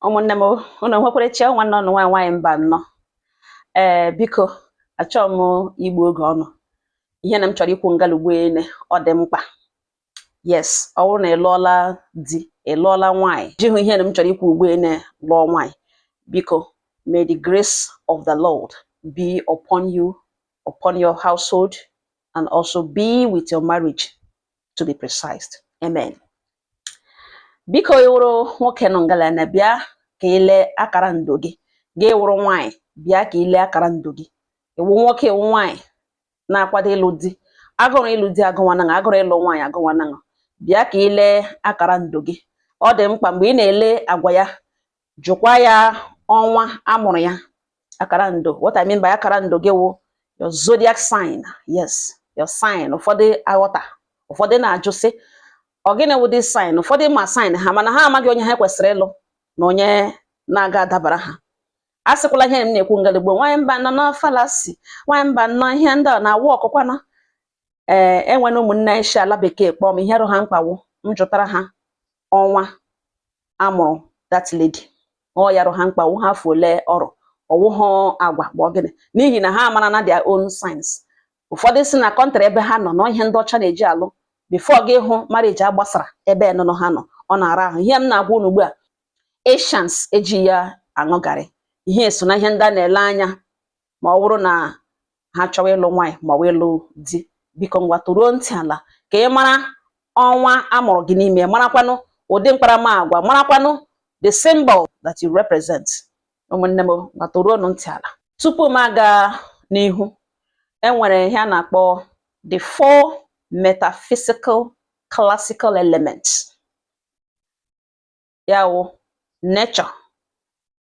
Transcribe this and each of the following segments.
ụmụnne m ụnụ nwekwara chi nwanne ụnụ nwaanyị nwaanyị Mbanọ ee biko achọọ m igbu oge ụnụ ihe na m chọrọ ikwu ngalugbo ele ọ dị mkpa yes ọ bụrụ na ị lụọla di ị lụọla nwaanyị jihụ ihe na m chọrọ ikwu ugbo ele lụọ nwaanyị biko may the grace of the Lord be upon you upon your household and also be with your marriage to be precise amen biko ị wụrụ nwoke nọ ngala na bịa ka i lee akara ndo gị gị wụrụ nwaanyị bịa ka i lee akara ndo gị ị wụ nwoke ị wụ nwaanyị na-akwado ịlụ di agụrụ ịlụ di agụwanaṅa agụrụ ịlụ nwaanyị agụwanaṅa bịa ka i lee akara ndo gị ọ dị mkpa mgbe ị na-ele agwa ya jụkwa ya ọnwa a mụrụ ya akara ndo what I mean by akara ndo gị wụ your zodiac sign yes your sign ụfọdụ aghọta ụfọdụ na-ajụ sị ọ gịnị wụ this sign ụfọdụ ma sign ha mana ha amaghị onye ha kwesịrị ịlụ na onye na-aga adabara ha a sịkwala ihe m na-ekwu ngalugbo nwanyị Mbanọ na fallacy nwanyị Mbanọ ihe ndị a na-awụ ọkụkwana ee enwena ụmụnne si ala bekee kpọọ m ihe rụ ha mkpa wụ m jụtara ha ọnwa a mụrụ that lady ọ ya rụ ha mkpa ọ wụhụ afọ ole ọ rụ ọ wụhụ agwa bụ gịnị n'ihi na ha mara na their own signs ụfọdụ si na country ebe ha nọ na ihe ndị ọcha na-eji alụ before gị ahụ marriage agbasara ebe nụnụ ha nọ ọ na-ara ahụ ihe m na-agwa unu ugbu a Asians eji ya aṅụ garị ihe so na ihe ndị a na-ele anya ma ọ bụrụ na ha chọwa ịlụ nwaanyị ma ọ bụ ịlụ di biko ngwa toruo ntị ala ka ị mara ọnwa a mụrụ gị n'ime marakwanụ ụdị mkparamagwa marakwanụ the symbol that you represent ụmụnne m ngwa toruonụ ntị ala tupu m aga n'ihu enwere ihe a na-akpọ the four metaphysical classical elements ya wụ nature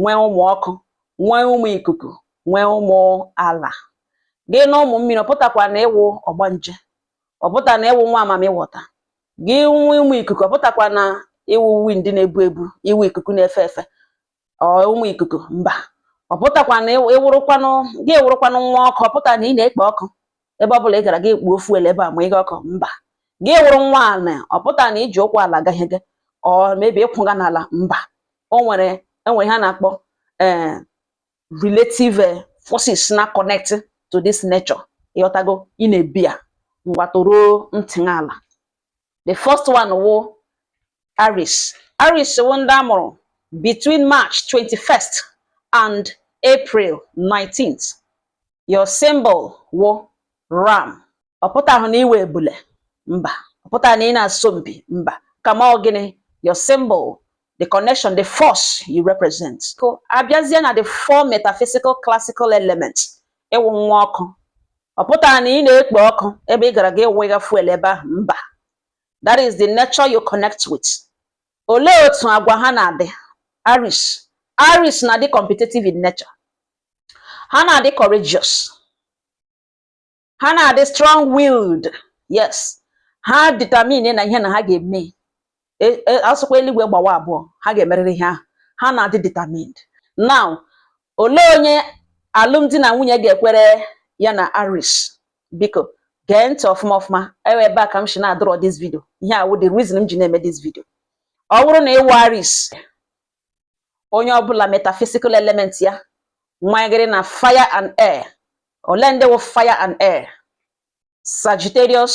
nwee ụmụ ọkụ nwee ụmụ ikuku nwee ụmụ ala gị nụ ụmụ mmiri ọ pụtakwa na ị wụ ọgbanje ọ pụta na ị wụ nwa mamiwọta gị nụ ụmụ ikuku ọ pụtakwa na ị wụ wind na-ebu ebu ị wụ ikuku na-efe efe ụmụ ikuku mba ọ pụtakwa na ị wụrụkwanụ gị wụrụkwanụ nwa ọkụ ọ pụta na ị na-ekpo ọkụ ebe ọ bụla ị gara gị kpuo fuel ebe a ma ịga ọkụ mba gị wụrụ nwa ala ọ pụta na i ji ụkwụ ala aga ihe gị or maybe ị kwụga n'ala mba o nwere o nwere ihe a na-akpọ eh, relative eh, forces na-connect to this nature ị ghọtago ị na-ebi ya ngwa toruo ntị ala the first one wụ Aries Aries wụ ndị a mụrụ between March 21st and April 19th your symbol wụ ram ọ pụtahụ na ị wụ ebule mba ọ pụtaghị na ị na-asọ mpi mba kama ọ gịnị your symbol the connection, the force you represent. So, abịazie na the four metaphysical classical elements. Ị wụ nwa ọkụ, ọ pụtara na ị na-ekpo ọkụ ebe ị gara gị wega fuel ebe ahụ mba that is the nature you connect with olee otu agwa ha na-adị Aries Aries na-adị competitive in nature ha na-adị courageous ha na-adị strong willed yes ha determine na ihe na ha ga-eme E- e- a sụkwa eluigwe gbawa abụọ ha ga-emerịrị ihe ahụ ha na-adị determined now olee onye alụmdi na nwunye ga-ekwere ya na Aries biko gee ntị ọfụma ọfụma ewe ebe a ka m si na-adọrọ this video ihe a wụ the reason m ji na-eme this video ọ wụrụ na ị wụ Aries onye ọbụla metaphysical element ya nwanyegịrị na fire and air ole ndị wụ fire and air sagittarius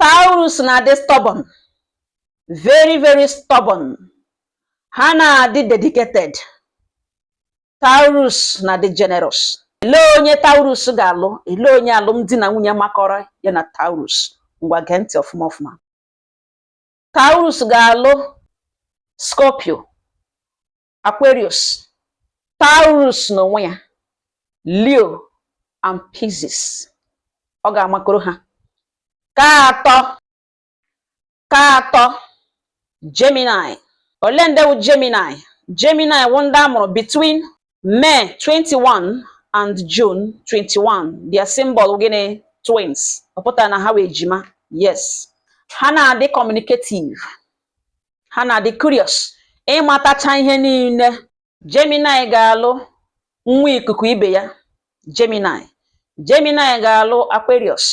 Taurus na-adị stubborn very very stubborn ha na-adị dedicated Taurus na-adị generous ele onye Taurus ga-alụ ele onye alụmdi na nwunye makọrọ ya na Taurus ngwa gee ntị ọfụma ọfụma Taurus ga-alụ Scorpio Aquarius Taurus n'onwe ya Leo and Pisces ọ ga-amakọrọ ha nke atọ Gemini ole ndị wụ Gemini Gemini wụ ndị a mụrụ between May 21 and June 21 their symbol gịnị twins ọ pụtara na ha wụ ejima yes ha na-adị communicative ha na-adị curious ịmatacha ihe niile Gemini ga-alụ nwa ikuku ibe ya Gemini Gemini ga-alụ Aquarius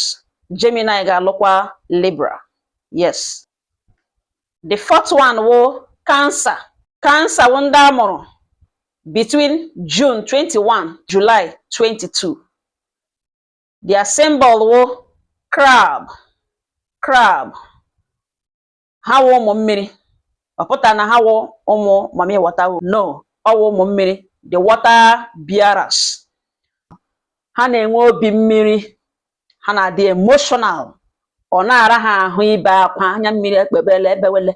Gemini ga-alụkwa Libra yes the fourth one wụ Cancer Cancer wụ ndị a mụrụ between June 21 July 22 their symbol wụ crab crab ha wụ ụmụ mmiri ọ pụta na ha wụ ụmụ mami water no ọ wụ ụmụ mmiri the water bearers ha na-enwe obi mmiri ha na-adị emotional ọ na-ara ha ahụ ibe akwa anya mmiri ekpebele ebewele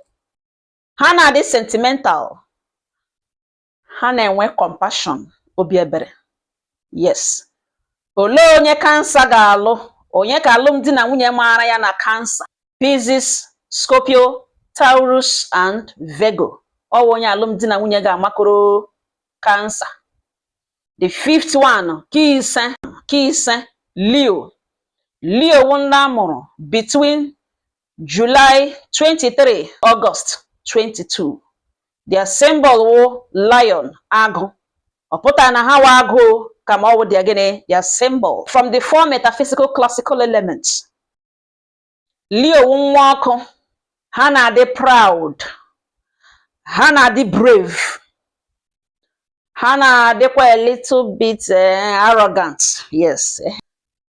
ha na-adị sentimental ha na-enwe compassion obi ebere yes olee onye Cancer ga-alụ onye ka alụmdi na nwunye maara ya na Cancer Pisces Scorpio Taurus and Virgo ọ wụ onye alụmdi na nwunye ga-amakọrọ Cancer the fifth one ke ise Leo Leo wụ ndị a mụrụ between July 23 August 22 their symbol wụ lion agụ ọ pụtara na ha wụ agụ kama ọ wụ their gịnị their symbol from the four metaphysical classical elements Leo wụ nwa ọkụ ha na-adị proud ha na-adị brave ha na-adịkwa a little bit eh, arrogant yes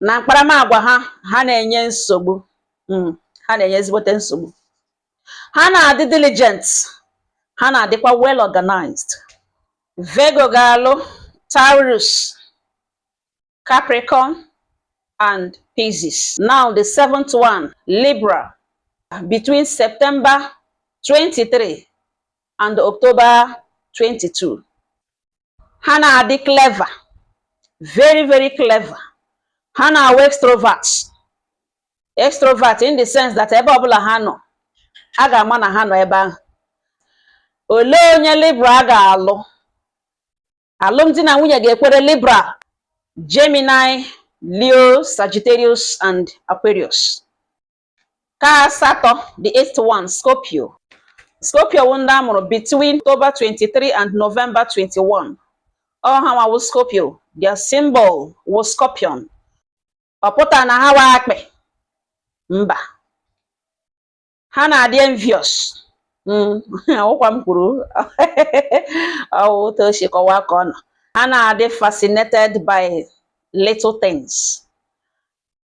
na mkparamagwa ha ha na-enye nsogbu hmm, ha na-enye ezigbote nsogbu ha na-adị diligent ha na-adịkwa well organized Virgo ga-alụ Taurus Capricorn and Pisces. Now the seventh one, Libra, between September 23 and October 22. ha na-adị clever very very clever ha na-awụ extrovert extrovert in the sense that ebe ọbụla ha nọ a ga-ama na ha nọ ebe ahụ olee onye Libra ga-alụ alụmdi na nwunye ga-ekwere Libra Gemini Leo Sagittarius and Aquarius Ke asatọ the eighth one Scorpio Scorpio wụ ndị a mụrụ between October 23 and November 21 ọ hanwa wụ Scorpio their symbol wụ scorpion ọ pụtara na ha wụ akpị mba ha na-adị envious hmm, ọ wụkwa m kwuru ọ wụ otu o si kọwaa ka ọ nọ ha na-adị fascinated by little things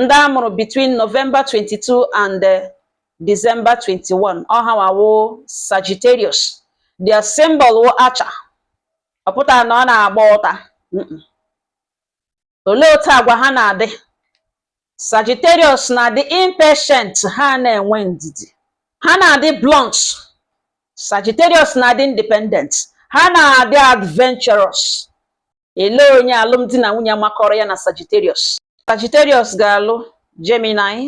ndị a mụrụ between November 22 and eh, December 21 ọ hanwa wụ Sagittarius their symbol wụ archer ọ pụtara na ọ na-agba ụta olee otu agwa ha na-adị Sagittarius na-adị impatient ha na-enwe ndidi ha na-adị blunt Sagittarius na-adị independent ha na-adị adventurous elee onye alụmdi na nwunye makọrọ ya na Sagittarius Sagittarius ga-alụ Gemini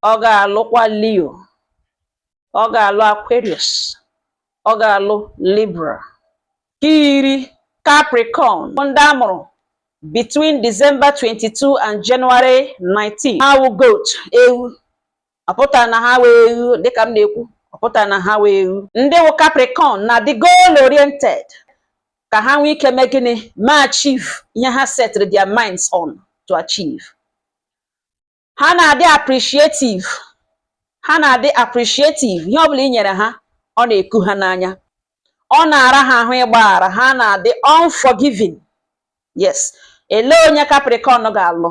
ọ ga-alụkwa Leo ọ ga-alụ Aquarius ọ ga-alụ Libra ke iri Capricorn ndị a mụrụ between December 22 and January 19 ha wụ goat ewu ọ pụta na ha wụ eghu dịka m na-ekwu ọ pụta na ha wụ eghu ndị wụ Capricorn na-adị goal oriented ka ha nwee ike mee gịnị ma achieve ihe ha setịrị their minds on to achieve ha na-adị appreciative ha na-adị appreciative ihe ọbụla i nyere ha ọ na-eku ha n'anya ọ na-ara ha ahụ ịgbaghara ha na-adị unforgiving yes elee onye Capricorn ga-alụ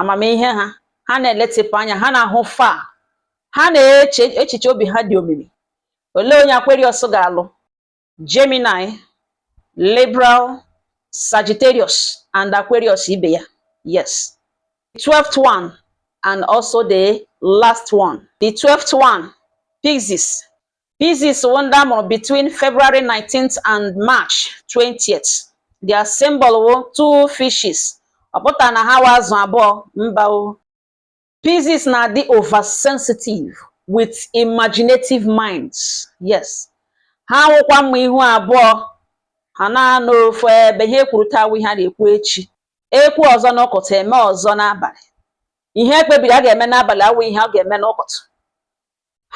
amamihe ha ha na-eletịpụ anya ha na-ahụ far ha na-eche echiche obi ha dị omimi olee onye Aquarius ga-alụ Gemini Libra Sagittarius and Aquarius ibe ya yes the 12th one and also the last one the 12th one Pisces Pisces wụ nde a mụrụ between February 19th and March 20th. Their symbol wụ two fishes. Ọ pụta na ha wụ azụ abụọ mba o. Pisces na-adị oversensitive with imaginative minds. Yes. Ha wụkwa mma ihu abụọ ha na-anọ ofu ebe ihe e kwuru taa awụ ihe a na-ekwu echi. Ekwu ọzọ n'ụkụtụ eme ọzọ n'abalị. Ihe e kpebiri a ga-eme n'abalị awụ ihe a ga-eme n'ụkụtụ.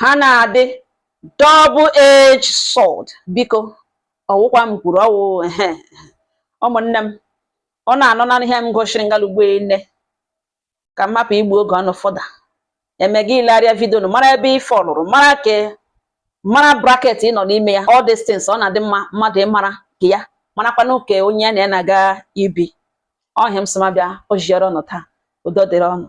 ha na-adị double edge sword biko ọ wụkwa m kwuru ọ wụ ụmụnne m ọ na-anọ na ihe m gosiri ngalugbo nne ka m hapụ igbu oge ụnụ further eme gị ilegharịa video nụ mara ebe ị fallụrụ mara ke mara bracket ị nọ n'ime ya all these things ọ na-adị mma mmadụ ịmara nke ya marakwa nke onye na ya na-aga ibi ọ ihe m sị m abịa ziere ụnụ taa udo dịrị ụnụ